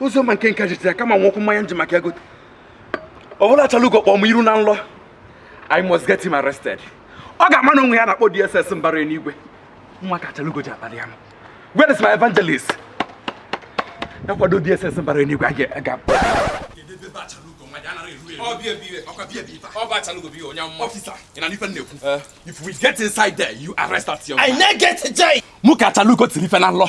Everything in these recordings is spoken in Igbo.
ụzọ ma nke nka jitara kama nwekwu mmanya nji maka ego ọ bụla Achalugo kpọọ m iru na nlọ I must get him arrested ọ ga-ama na o nwe ihe a na-akpọ DSS mbara enigwe nwa ka Achalugo ji akpali ya m where is my evangelist na-akwado DSS mbara enigwe aga If we get inside there, you arrest that young man. I na get a jai. Mụ ka Achalugo tiri ife na nlọ.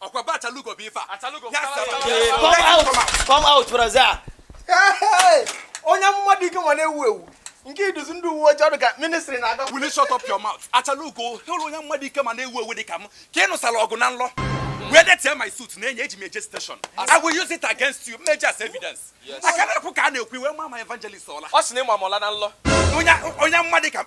ọkwa be Achalugo bụ ife a come out come out brother onye amụma dị ike ma na-ewu ewu nke i duzi ndị uwe ojii ọ dị ka ministry na-aga will you shut up your mouth Achalugo hụrụ onye amụma dị ike ma na-ewu ewu dị ka m ka ị nụsara ọgụ na nlọ wee detie my suit na enye eji m eje station i will use it against you m eji as evidence a ka na-ekwu ka a na-ekwu i wee maa my evangelist ọla ọ sị na ị ma m ọla na nlọ onye amụma dị ka